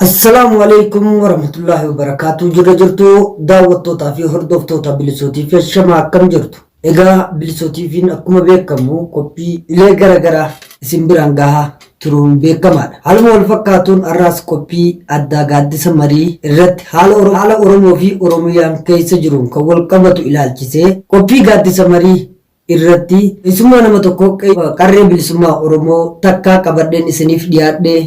Assalaamu alaikum warahmatullaahi wabarakaatu jirra jirtu daawwattootaa fi hordoftoota bilisootii fi shamaa akkam jirtu egaa bilisootiifiin akkuma beekamu qophii ilee garagaraa isin biraan gahaa turuun beekamaadha haaluma wal fakkaatuun har'aas qophii addaa gaaddisa marii irratti haala Oro- haala oromoo fi oromiyaan keessa jiruun kan wal qabatu ilaalchisee qophii gaaddisa marii irratti keessummaa nama tokko qarree bilisummaa Oromoo takkaa qabadheen isiniif dhiyaadhee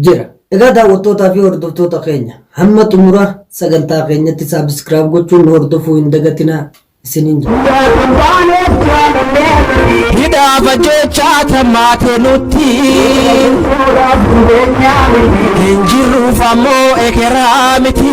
jira. Egaa daawwattootaa fi hordoftoota keenya hamma xumura sagantaa keenyatti subscribe gochuun nu hordofuu hin dagatinaa isiniin jedha. Hidhaaf ajjeechaa tammaate nutti hin jirruuf ammoo ekeraa miti.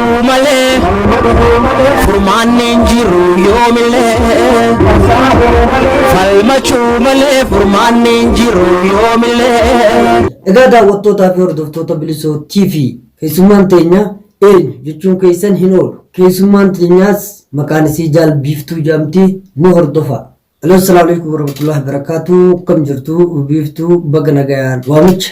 Du'uu malee furmaanni hin jiru yoomillee. Falmachuu malee furmaanni hin jiru yoomillee. Egaa daawwattootaa fi hordoftoota Bilisoo TV keessummaan teenya eenyu jechuun keessan hin oolu. Keessummaan teenyaas maqaan isii Jaal Biiftuu jedhamti nu hordofaa. Aloo assalaamu alaikum warahmatullahi wabarakatuh akkam jirtu biiftuu baga nagayaan waamicha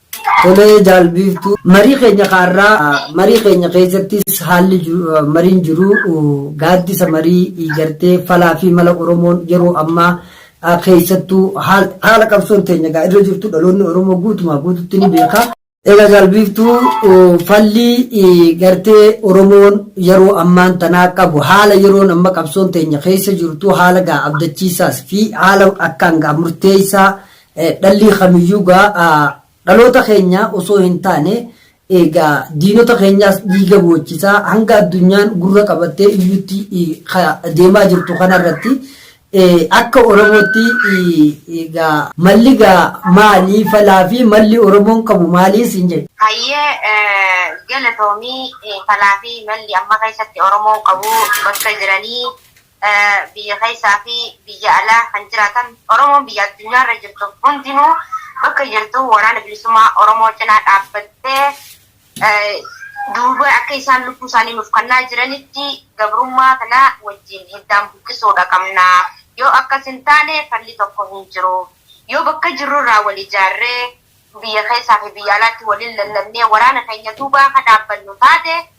Tolee Jaal Biiftuu, marii keenya ka har'aa marii keenya keessattis haalli mariin jiru gaaddisa marii iijartee falaa fi mala Oromoon yeroo ammaa keessattuu haala qabsoon teenya egaa irra jirtu dhaloonni Oromoo guutumaa guututti ni beeka. Egaa Jaal Biiftuu falli gartee Oromoon yeroo ammaan tanaa qabu haala yeroon amma qabsoon teenya keessa jirtu haala gaa abdachiisaas fi haala akkaan gaa murteessaa Dhallii kamiyyuu gaa dhaloota keenyaa osoo hin taane egaa diinota keenyaas dhiiga boochisaa hanga addunyaan gurra qabattee iyyutti deemaa jirtu kanarratti akka Oromootti egaa malli gaa maalii falaa fi malli Oromoon qabu maalii siin jedhu. Hayyee galatoomii falaa fi malli amma keessatti Oromoon qabu bakka jiranii biyya keessaa fi biyya alaa kan jiraatan Oromoon biyya addunyaa irra jirtu hundinuu bakka jirtu waraana bilisummaa Oromoo cinaa dhaabbattee duuba akka isaan lubbuu isaanii nuuf kannaa jiranitti gabrummaa kana wajjin hiddaan buqqisuudha qabna. Yoo akkas hin taane falli tokko hin jiru. Yoo bakka jirru irraa wal ijaarree biyya keessaa fi biyya alaatti waliin lallabnee waraana keenya duuba akka dhaabbannu taate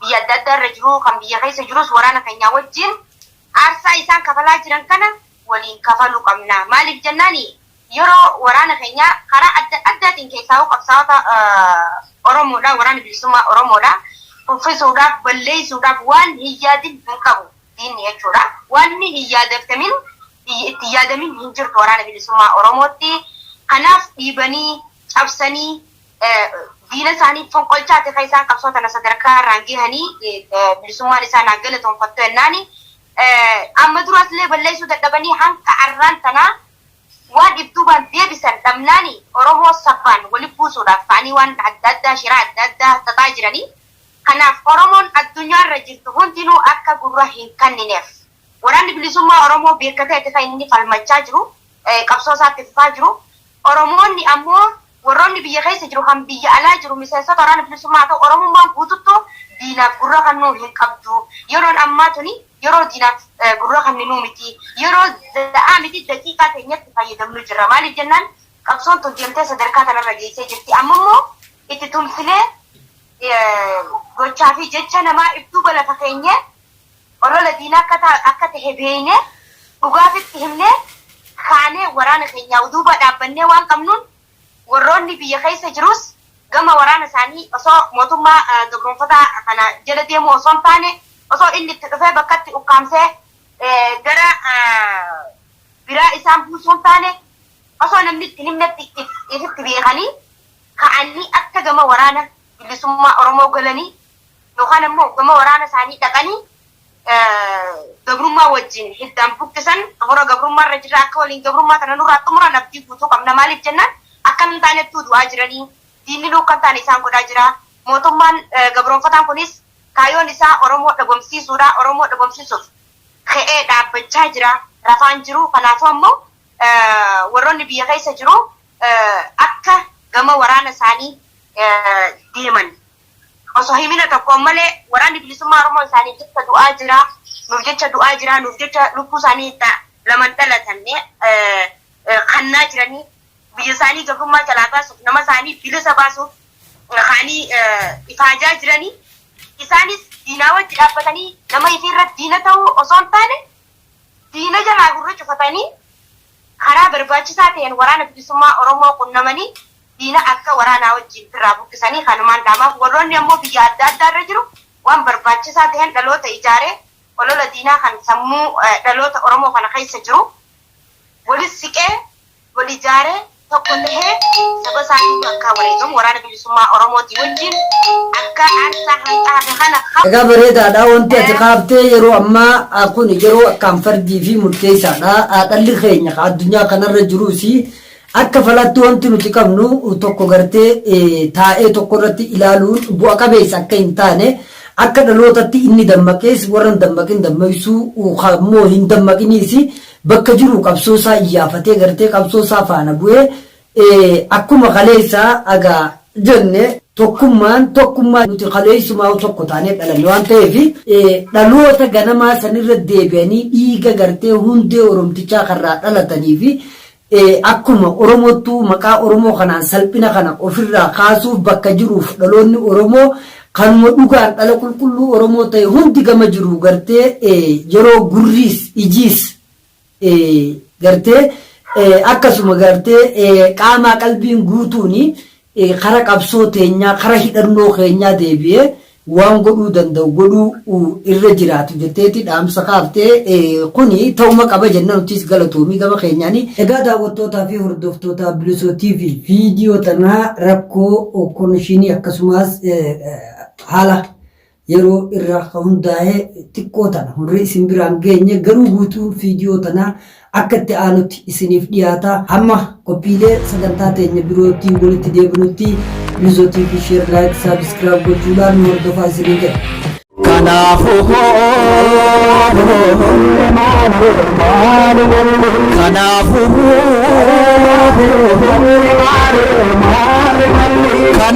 biyya adda addaa irra jiru, kan biyya keessa jirus waraana keenyaa wajjin aarsaa isaan kafalaa jiran kana waliin kafaluu qabna. Maaliif jennaan yeroo waraana keenya karaa adda addaatiin keessaahuu qabsaa'ota Oromoodhaa, Waraana Bilisummaa Oromoodhaa kuffisuudhaaf, balleessuudhaaf waan hin yaadin hin qabu diinni jechuudha. Waanni hin yaadatamin, itti hin yaadamin hin jirtu Waraana Bilisummaa Oromootti. Kanaaf dhiibanii, cabsanii diina isaanii fonqolchaati kan isaan qabsoo tana sadarkaa irraan gahanii bilisummaan isaan haa galatoonfattu jennaani amma duraas illee balleessuu dadhabanii hanga arraan tanaa waan ibduubaan deebisan dhabnaani Oromoo sabbaan wali buusuudhaaf ka'anii waan adda addaa shiraa adda addaa xaxaa jiranii kanaaf Oromoon addunyaa irra jirtu hundinuu akka gurra hin kannineef waraanni bilisummaa Oromoo beekkateeti kan inni falmachaa jiru qabsoo isaatti fufaa jiru Oromoonni ammoo Warroonni biyya keessa jiru kan biyya alaa jiru miseensota Waraana Bilisummaa haa ta'u Oromummaan guututtu diinaaf gurra kannuu hin qabdu. Yeroon ammaa tuni yeroo diinaaf gurra kanninuu miti. Yeroo za'aa miti daqiiqaa teenyatti fayyadamnu jirra. Maaliif jennaan qabsoon tun deemtee sadarkaa tanarra geessee jirti. Amma immoo itti tumsinee gochaa fi jecha namaa if duuba lafa keenyee Olola diinaa akka akka tahe beeynee, dhugaa ifitti himnee, kaanee waraana keenyaa uduuba dhaabbannee waan qabnuun, warroonni biyya keessa jiruus gama waraana isaanii osoo mootummaa gabroomfataa kana jala deemuu osoo hin taane, osoo inni itti dhufee bakkatti ukkaamsee gara biraa isaan buusuu hin taane, osoo namni itti hin himnetti ifitti beekanii, ka'anii akka gama waraana bilisummaa Oromoo galanii yookaan ammoo ogguma waraana isaanii dhaqanii gabrummaa wajjin hiddaan buqqisan hora gabrummaa irra jirra akka waliin gabrummaa kana nurraa xumuran abdii guutuu qabna maaliif jennaan akka hin taanettuu du'aa jiranii diinni nuu akka hin taane isaan godhaa jira mootummaan gabroonfataan kunis kaayoon isaa oromoo dhabamsiisuudha oromoo dhabamsiisuuf ka'ee dhaabbachaa jira rafaan jiru kanaafuu ammoo warroonni biyya keessa jiru akka gama waraana isaanii deeman Osoo himina tokkoon malee Waraanni Bilisummaa Oromoo isaaniif jecha du'aa jira, nuuf jecha du'aa jira, nuuf jecha lubbuu isaanii itti laman dhalatanne kannaa jiranii biyya isaanii gabrummaa jalaa baasuuf, nama isaanii bilisa baasuuf kaanii ifaajaa jiranii isaanis diinaa wajji dhaabbatanii nama ifii irratti diina ta'uu osoo hin taane diina jalaa gurra cufatanii Karaa barbaachisaa ta'een Waraana Bilisummaa Oromoo qunnamanii diina akka waraanaa wajjiin firraa buqqisanii kanumaan dhaamaaf. Warroonni ammoo biyya adda addaa irra jiru waan barbaachisaa ta'een dhaloota ijaaree olola diinaa kan sammuu dhaloota Oromoo kana keessa jiru wali siqee, wal ijaaree, tokko tahee saba isaatiin akka wareegamu Waraana. Bilisummaa Oromootii wajjin akka aarsaa hanqaaqe kana kaffaluu. Egaa bareedaadha wanti ati kaaftee yeroo ammaa kun yeroo akkaan fardii fi murteessaadha dhalli keenya ka addunyaa kanarra jiruus akka falaatti wanti nuti qabnu tokko gartee taa'ee tokko irratti ilaaluun bu'a qabeessa akka hin taane akka dhalootatti inni dammaqees warra hin dammaqin dammaqsuu kammoo hin dammaqiniis bakka jiru qabsoo isaa iyyaafatee gartee qabsoo isaa faana bu'ee Akkuma kaleessaa aga jenne tokkummaan tokkummaa nuti kaleessumaa'uu tokko taanee dhalanne waan ta'eef dhaloota ganamaa sanirra deebi'anii dhiiga gartee hundee Oromtichaa kanrraa dhalatanii fi akkuma Oromoottuu maqaa Oromoo kanaan salphina kana ofirraa kaasuuf bakka jiruuf dhaloonni Oromoo kanuma dhugaan dhala qulqulluu Oromoo ta'e hundi gama jiru gartee yeroo gurriis ijiis gartee akkasuma gartee qaamaa qalbiin guutuun kara qabsoo teenyaa kara hidhannoo keenyaa deebi'ee waan godhuu danda'u godhuu irra jiraatu jetteeti dhaamsa kaaftee kuni ta'uma qaba jenna nutis galatoomii gama keenyaani. Egaa daawwattootaa fi hordoftoota Bilisoo TV viidiyoo tanaa rakkoo konishinii akkasumas haala yeroo irra ka hundaa'ee xiqqoo tana hunri isin biraan geenye garuu guutuun fiidiyoo tanaa akka itti aanutti isiniif dhiyaata hamma qophiilee sagantaa teenya birootti walitti deebinutti yuuzotii fi sheer laayik saabiskiraab gochuudhaan nu hordofaa isinii jedha. Kanaafuu kanaafuu kanaafuu